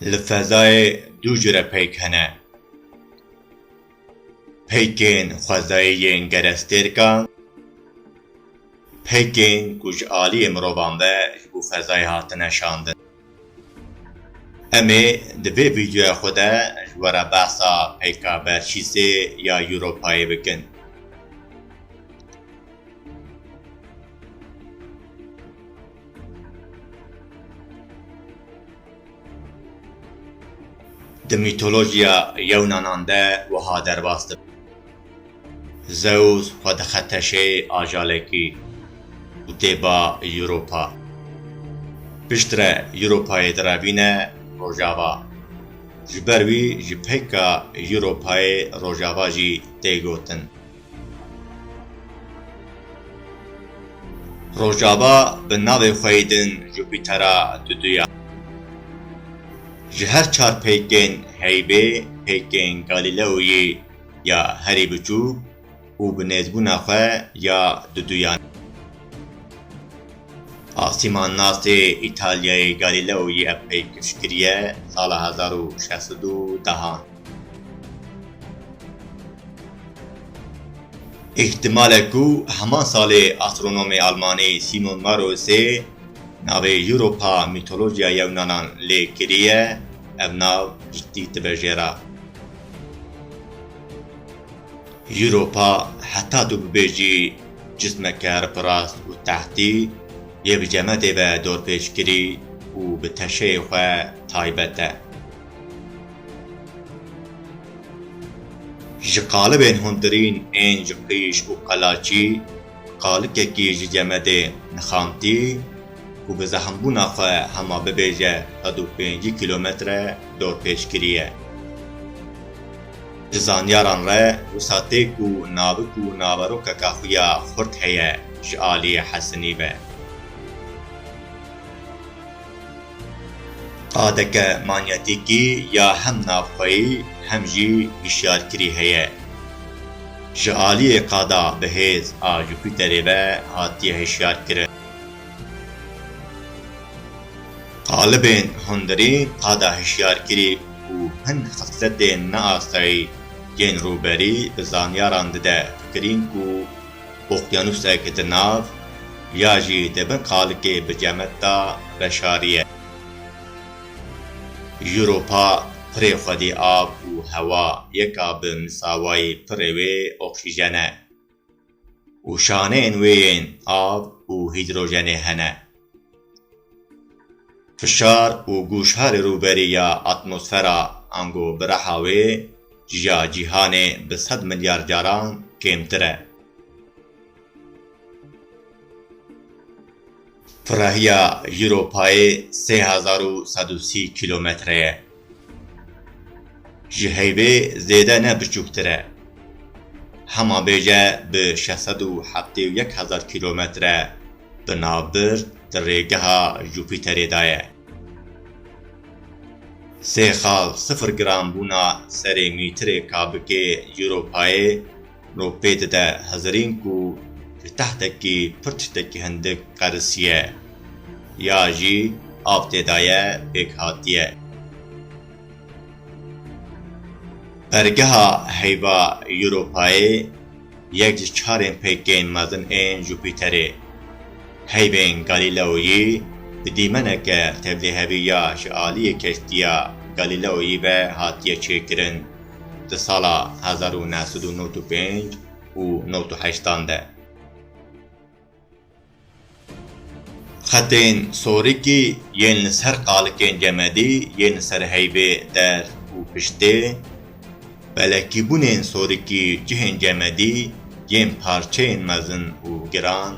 Li fezayê du jure peyk hene. Peykên xwezayî yên gerestêrkan, peykên ku ji aliyê mirovan ve ji bo fezayê hatine şandin. Em ê di vê vîdeoya xwe de ji we re behsa peyka Belçîsê ya Europayê bikin. Di mîtolojiya Yewnanan de wiha derbas dibin. Zeus xwe dixe teşeyê ajalekî û tê ba Europa. Piştre Europayê direvîne Rojava. Ji ber wî ji peyka Europayê Rojava jî tê gotin. Rojava bi navê xwe yê din Jupîtera duduya. Ji her çar peykên Heybê, peykên Galîleoyî ya herî biçûk û bi nêzbûna xwe ya duduyan. Asîman nasê Îtalyayê Galileo yî ev pêkij kiriye sala hezar û şeş sed û dehan. Îhtimal e ku heman salê astronomê almanî Simon Marosê navê Europa mîtolojya yewnanan lê kiriye, ev nav ji tî dibe jê re. Europa heta tu bibêjî cismeke ripirast û tehtî yê bi cemedê ve dorpêçkirî û bi teşeyê xwe taybet e. Ji qalibên hundirîn ên ji qîş û qelaçî, qalikekî ji cemedê nixantî, ku bi zehmbûna xwe hema bibêje sed û pêncî kîlometre dorpêç kiriye. Ji zanyaran re wisa tê ku navik û naverokeke xuya xurt heye ji aliyê Hesinî ve. Qadeke manyetîkî ya hem navxweyî hem jî hişyarkirî heye. Ji aliyê qada bi hêz a Jupîterê ve hatiye hişyarkirin. Talibên hundirî qada hişyarkirî û hin xisletên neasayî yên rûberî bi zanyaran dide kirîn ku oqyanusek di nav ya jî di bin qalikê bi cemet de veşariye. Europa pirê xwedî av û hewa yeka bi misawayî pirê wê oksîjen e. Û şaneyên wê yên av û hîdrojenê hene. Fişar û gûşha li rûberî ya atmosfera ango bi reha wê ji ya cîhanê bi sed milyar caran kêmtir e. Pirrahiya Ewropayê sê hezar û sed û sî kîlometre ye. Ji heyvê zêde ne biçûktir e. Hema bêje bi şeş sed û heftê û yek hezar kîlometre bi navbir di rêgeha Jupîterê de ye. Sê xal sifir gram bûna serê mîtirê kabikê Ewropayê, No pê dide Hezirîn ku li tehtekî pir tiştekî hindik qerisiye ya jî av tê daye pêk hatiye. Pergeha heyva Europayê yek ji çarên pêkên mezin ên Jupîterê, heyvên Galileoyî bi dîmeneke tevlihevî ya ji aliyê keştiya Galileoyî ve hatiye çêkirin. di sala hezar û neh sed û newt û pênc û newt û heştan de. Xetên sorikî yên li ser qalikên cemedî yên li ser heyvê der û piştê, pelekîbûnên sorikî cihên cemedî yên parçeyên mezin û giran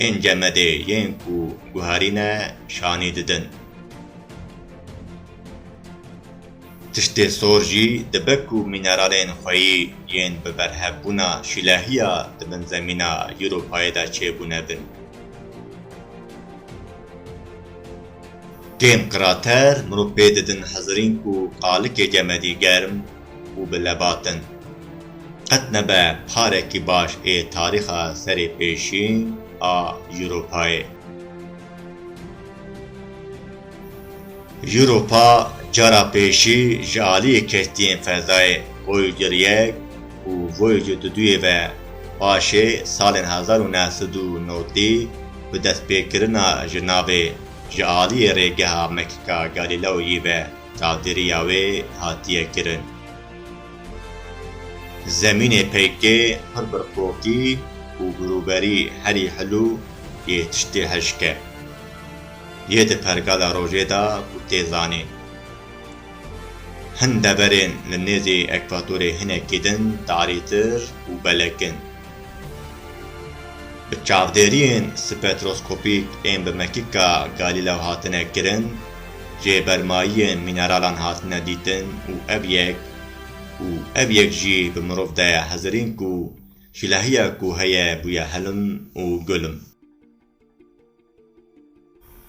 ên cemedê yên ku guherîne şanî didin. Tiştê sor jî dibe ku mîneralên xweyî yên bi berhevbûna şîlehiya di bin zemîna Ewropayê de çêbûne bin. Kêm qirater mirov pê didin hezirîn ku qalikê cemedî germ û bi lebat in. Qet nebe parekî baş ê tarîxa serê pêşîn a Ewropayê. Europa cara pêşî ji aliyê kestiyên fezayê Voyager yek û Voyager du duyê ve paşê salên hezar û neh sed û nodî bi destpêkirina ji navê ji aliyê rêgeha mekika Galileo yî ve çavdêriya wê hatiye kirin. Zemînê peykê pir birqokî û birûberî herî hilû yê tiştê hişk e. Yê di pergala rojê de ku tê zanîn, hin deverên li nêzî ekvatorê hinekî din tarîtir û belek in. Bi çavdêriyên spektroskopîk ên bi mekika Galîleo hatine kirin, jêbermayiyên mîneralan hatine dîtin û ev yek û ev yek jî bi mirov daye hezirîn ku jilehiya ku heye bûye hilm û gulm.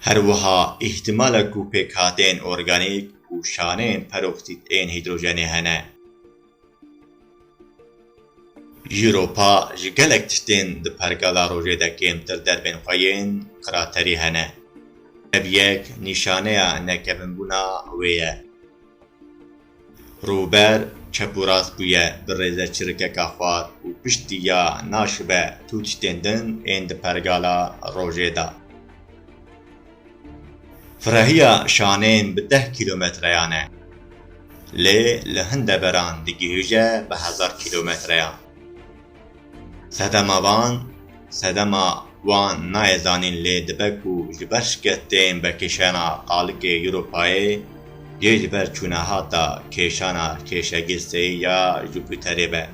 Her wiha îhtîmala ku pêkhateyên organîk û şaneyên peroksit ên hîdrojenê hene. Europa ji gelek tiştên di pergala rojê de kêmtir derbên xwe yên qiraterî hene. Ev yek nîşaneya nekevinbûna wê ye. Rûber çep û rast bûye bi rêze çirikeka xwar û piştî ya naşibe tu tiştên din ên di pergala rojê de. Firehîya şanên bi deh kîlometreyan e. Lê li hin deveran digihije bi hezar kîlometreyan. Sedema van, sedema wan nayê zanîn lê dibe ku ji ber şikestên vekişena qalikê Europayê yê ji ber çûnehata kêşana kêşegîrseyî ya Jupîterê be.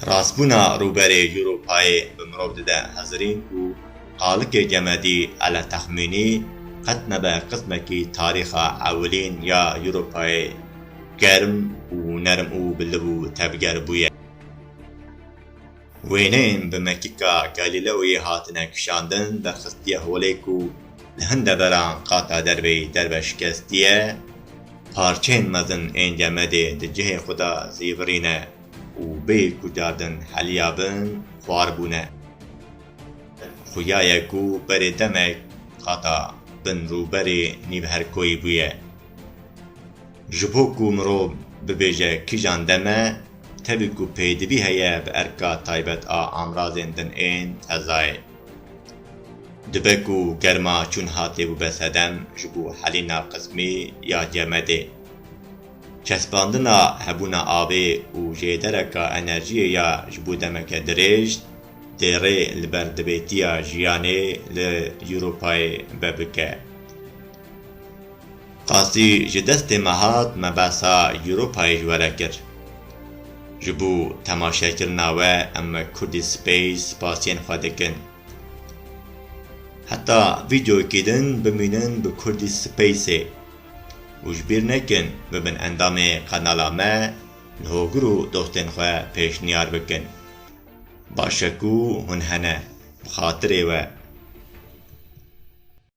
Rastbûna rûberê Europayê bi mirov dide hezirîn ku Xalikê Gemedî Eletexmînî qet nebe qismekî tarîxa ewilîn ya Ewropayê germ û nerm û bi liv û tevger bûye. Wêneyên bi mekika Galileoyê hatine kişandin derxistiye holê ku li hin deveran qata derveyî derve şikestiye, parçeyên mezin ên Gemedê di cihê xwe de zîvirîne û bêyî ku cardin heliya bin xwar bûne. Xuya ye ku berê demek hata bin rûberê nîvherkoyî bûye. Ji bo ku mirov bibêje kîjan dem e, tevî ku pêdivî heye bi erka taybet a amrazên din ên fezayê. Dibe ku germa çûn hatê bibe sedem ji bo helîna qismî ya cemedê. Çespandina hebûna avê û jêdereka enerjiyê ya ji bo demeke dirêj, Têrê li ber divêtiya jiyanê li Ewropayê be bike. Qasî ji destê me hat me behsa Ewropayê ji we re kir. Ji bo temaşekirina we em Kurdî Space spasiyên xwe dikin. Heta vîdeoyekî din bimînin bi Kurdî Spaceê û ji bîr nekin bibin endamê qenala me, li hogir û dostên xwe pêşniyar bikin. Baş e ku hûn hene bi xatirê we.